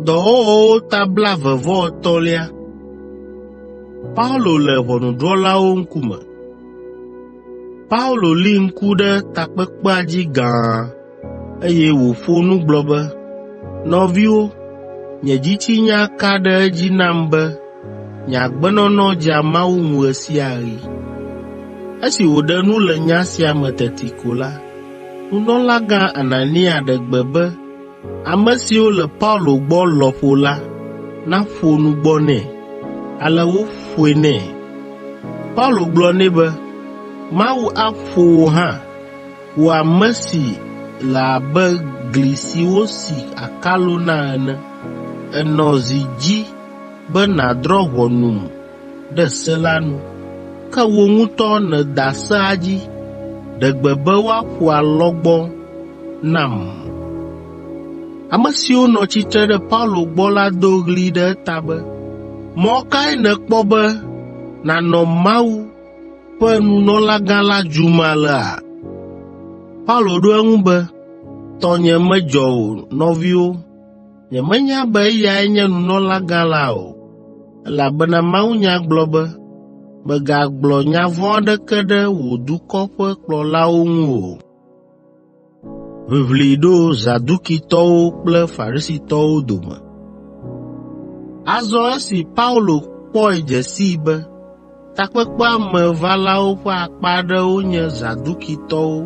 Dɔwɔwɔwo ta blaeve-vɔ-etɔ̃lia. Paulo le ʋɔnudrɔ̃lawo ŋkume Paulo li ŋku ɖe takpekpea dzi gãa, eye wòƒo nu gblɔ be, “Nɔviwo, nye dzitsinya ka ɖe edzi nam be Nye agbenɔnɔ dzea Mawu ŋu ɣe sia ɣi. Esi wòɖe nu le nya sia me teti ko la, nunɔlagã Anania ɖe gbe be ame siwo le Paulo gbɔ lɔƒo la naƒo nu gbɔ nɛ. Ale woƒoe nɛ. Paulo gblɔ nɛ be, “Mawu aƒo wò hã, wò ame si le abe gli si wosi akalo na ene. Ènɔ zi dzi be nàdrɔ̃ ʋɔnum ɖe se la nu, ke wò ŋutɔ nèda sea dzi. Ɖe gbe be woaƒo alɔgbɔ nam. Ame siwo nɔ tsitre ɖe Paulo gbɔ la do ɣli ɖe eta be, Mɔ kae nèkpɔ be nànɔ Mawu ƒe nunɔlagã la dzum alea? Paulo ɖo eŋu be, Tɔnye medzɔ o, nɔviwo. Nyemenya be eyae nye nunɔlagã la o, elabena mawunya gblɔ be, ‘Mègagblɔ nya vɔ̃ aɖeke ɖe wò dukɔ ƒe kplɔlawo ŋu o.’ ” Azɔ esi Paulo kpɔe dze sii be Takpekpea me valawo ƒe akpa aɖewo nye Zadukitɔwo,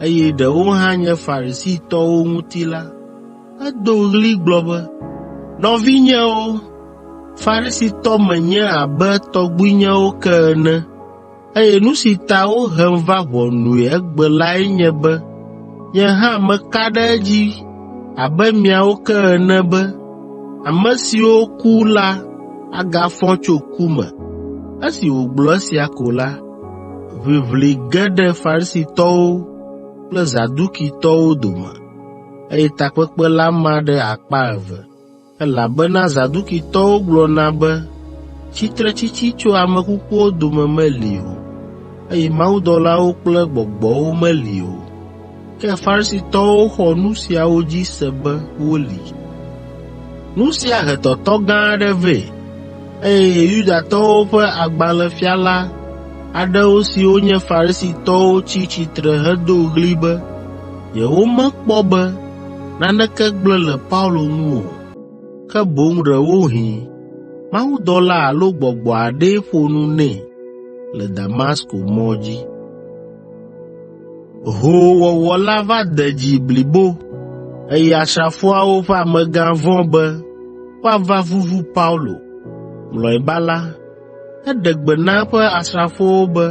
eye ɖewo hã nye Farisitɔwo ŋuti la, edo ɣli gblɔ be, “Nɔvinyewo, Farisitɔ menye abe tɔgbuinyewo ke ene, eye nu si ta wohem va ʋɔnui egbe lae nye be nye hã meka ɖe edzi abe miawo ke ene be Ame siwo ku la agafɔ tso ku me.” Esi wògblɔ esia ko la, ʋiʋli ge ɖe Farisitɔwo kple Zadukitɔwo dome, eye takpekpe la ma ɖe akpa eve, elabena Zadukitɔwo gblɔna be tsitretsitsi tso ame kukuwo dome meli o, eye mawudɔlawo kple gbɔgbɔwo meli o. Ke Farisitɔwo xɔ nu siawo dzi se be woli. Nu sia he tɔtɔ gã aɖe vɛ, eye Yudatɔwo ƒe agbalẽfiala aɖewo siwo nye Farisitɔwo tsi tsitre hedo ɣli be yewomekpɔ be naneke gblẽ le Paulo ŋu o, ke boŋ ɖewohĩ mawudɔla alo gbɔgbɔ aɖee ƒo nu nɛ le Damasko mɔ dzi. Hoowɔwɔ la va de dzi blibo, eye asrafoawo ƒe amegã vɔ̃ be woava vuvu Paulo. Mlɔeba la, eɖe gbe na eƒe asrafowo be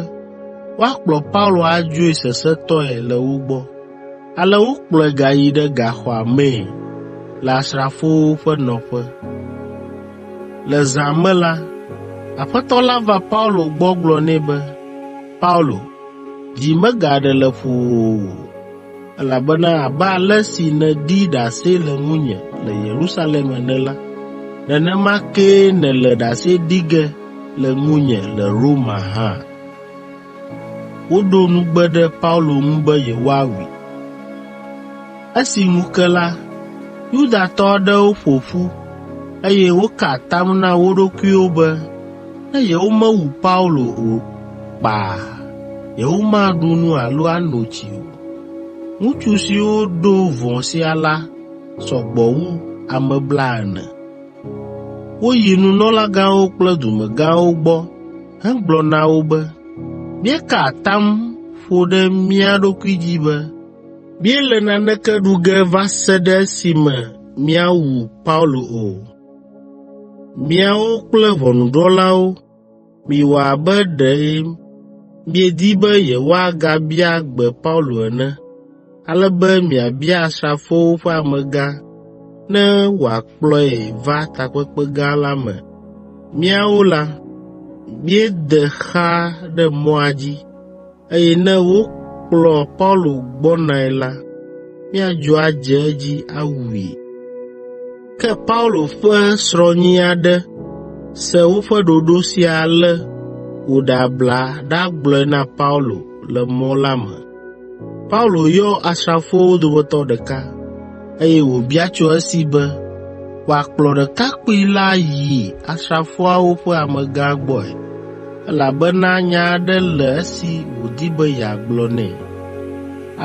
woakplɔ Paulo adzoe sesẽtɔe le wo gbɔ. Ale wokplɔe gayi ɖe gaxɔa mee le asrafowo ƒe nɔƒe. Le zã me la, Aƒetɔ la va Paulo gbɔ gblɔ nɛ be, “Paulo, Dzi megaɖe le ƒowò o, elabena abe ale si nèɖi ɖase le ŋunye le Yerusalem ene la, nenema kee nèle ɖase ɖi ge le ŋunye le Roma hã.” Woɖo nugbe ɖe Paulo ŋu be yewoawui. Esi ŋu ke la, Yudatɔ aɖewo ƒo ƒu, eye woka atam na wo ɖokuiwo be ne yewomewu Paulo o kpaa, yewomaɖu nu alo ano tsi o. Ŋutsu siwo ɖo vɔ̃ sia la sɔ gbɔ wu ame blaene. Woyi nunɔlagãwo kple dumegãwo gbɔ hegblɔ na wo be, “Míeka atam ƒo ɖe mía ɖokui dzi be míele naneke ɖu ge va se ɖe esime míawu Paulo o. Míawo kple ʋɔnudrɔ̃lawo miwɔ abe ɖe miedi be yewoagabia gbe Paulo ene, ale be miabia asrafowo ƒe amegã ne wòakplɔe va takpekpe gã la me. Míawo la, míede xa ɖe mɔa dzi.” eye ne wokplɔ Paulo gbɔnae la, míadzo adze edzi awui.” Ke Paulo ƒe srɔ̃nyi aɖe se woƒe ɖoɖo sia ale wòɖe abla ɖagblɔe na Paulo le mɔ la me. Paulo yɔ asrafowo dometɔ ɖeka, eye wòbia tso esi be wòakplɔ ɖekakpui la yi asrafoawo ƒe amegã gbɔe, elabena nya aɖe le esi wòdi be yeagblɔ nɛ.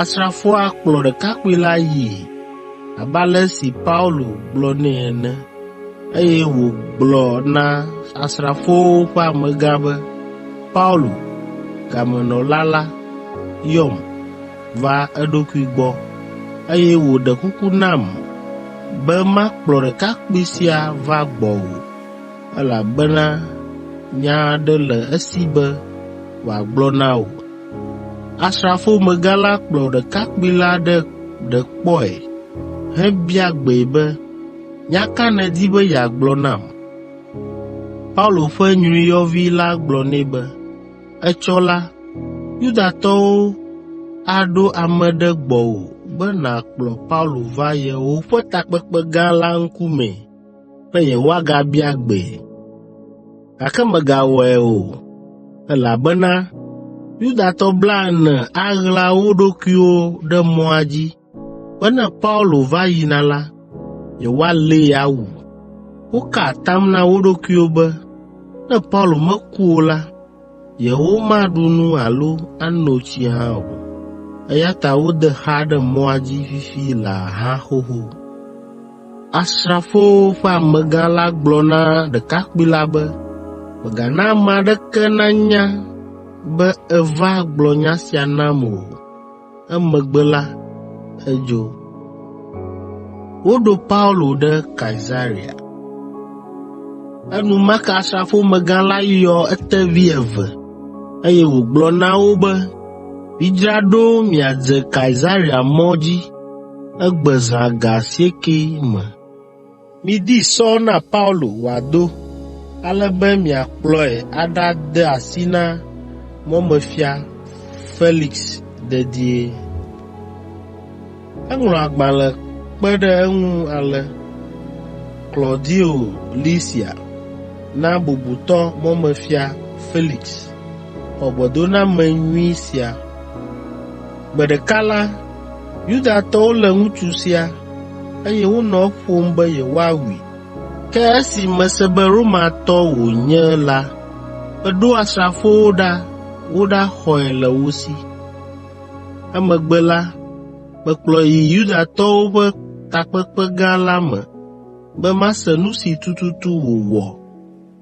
Asrafoa kplɔ ɖekakpui la yii, abe ale si Paulo gblɔ nɛ ene, eye wògblɔ na asrafowo ƒe amegã be, “Paulo, gamenɔla la, yɔm.” va eɖokui gbɔ, eye wòɖe kuku nam be makplɔ ɖekakpui sia va gbɔwò, elabena nya aɖe le esi be wòagblɔ na wò. Asrafomegã la kplɔ ɖekakpui la ɖe ɖe kpɔe hebia gbee be, “Nya ka nèdi be yeagblɔ nam?” Paulo ƒe nyruiyɔvi la gblɔ nɛ be, Etsɔ la, Yudatɔwo aɖo ame ɖe gbɔwò be nàkplɔ Paulo va yewoƒe takpekpe gã la ŋkumee be yewoagabia gbee. Gake mègawɔe o, elabena Yudatɔ blaene aɣla wo ɖokuiwo ɖe mɔa dzi be ne Paulo va yina la, yewoalée awu. Woka atam na wo ɖokuiwo be ne Paulo meku o la, yewomaɖu nu alo ano tsi hã o. Eya ta wode xa ɖe mɔa dzi fifi laa hã xoxo. Asrafowo ƒe amegã la gblɔ na ɖekakpui la be, “Mègana ame aɖeke nanya be èva gblɔ nya sia nam o.” Emegbe la, edzo. Woɖo Paulo ɖe Kaesarea. Enumake asrafomegã la yɔ etevi eve, eye wògblɔ na wo be, “Midzra ɖo miadze Kaesarea mɔ dzi egbe zã ga asiekɛ me. Midi sɔ na Paulo wòado, ale be miakplɔe aɖade asi na mɔmefia Felix dedie. Eŋlɔ agbalẽ kpe ɖe eŋu ale, Klaudio Lisia, na bubutɔ mɔmefia Felix, xɔ gbɔdoname nyui sia. Gbe ɖeka la, Yudatɔwo lé ŋutsu sia, eye wonɔ eƒom be yewoawui. Ke esi mese be Romatɔ wònye la, meɖo asrafowo ɖa woɖaxɔe le wo si. Emegbe la, mekplɔe yi Yudatɔwo ƒe takpekpe gã la me be mase nu si tututu wòwɔ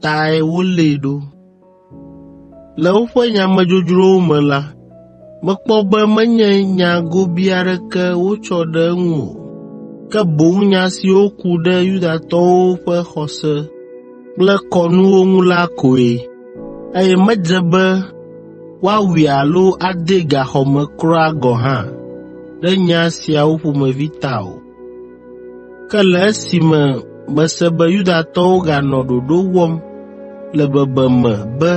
tae wolée ɖo. Le woƒe nyamedzodzrowo me la, mekpɔ be menye nya gobii aɖeke wotsɔ ɖe eŋu o, ke boŋ nya siwo ku ɖe Yudatɔwo ƒe xɔse kple kɔnuwo ŋu la koe, eye medze be woawui alo adee gaxɔ me kura gɔ̃ hã ɖe nya siawo ƒomevi ta o. Ke le esime mese be Yudatɔwo ganɔ ɖoɖo wɔm le bebeme be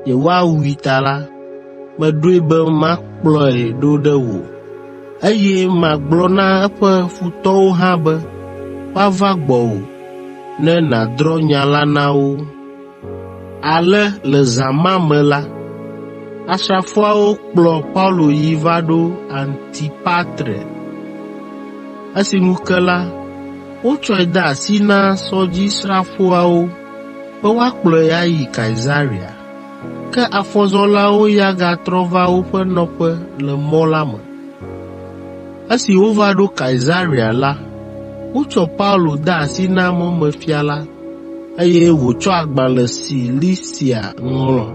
yewoawui ta la, meɖoe be makplɔe ɖo ɖe wò, eye magblɔ na eƒe futɔwo hã be woava gbɔwò ne nàdrɔ̃ nya la na wo. Ale le zã ma me la, asrafoawo kplɔ Paulo yi va ɖo Antipatre. Esi ŋu ke la, wotsɔe de asi na sɔdzisrafoawo be woakplɔe ayi Kaesarea. Ke afɔzɔlawo ya gatrɔ va woƒe nɔƒe le mɔ la me. Esi wova ɖo Kaesarea la, wotsɔ Paulo de asi na mɔmefia la eye wòtsɔ agbalẽ si Lisia ŋlɔ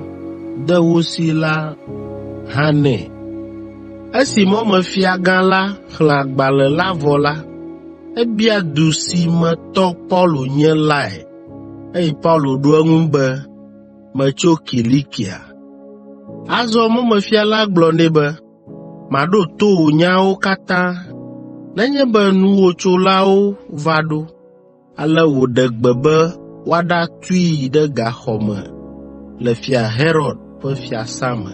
de wo si la hã nɛ. Esi mɔmefiagã la xlẽ agbalẽ la vɔ la, ebia du si me tɔ Paulo nye lae, eye Paulo ɖo eŋu be, “Metso Kilikia.” Azɔ mɔmefia la gblɔ nɛ be, “Maɖo to wò nyawo katã nenye be nuwòtsolawo va ɖo.” Ale wòɖe gbe be woaɖatui ɖe gaxɔ me le Fia Herod ƒe fiasã me.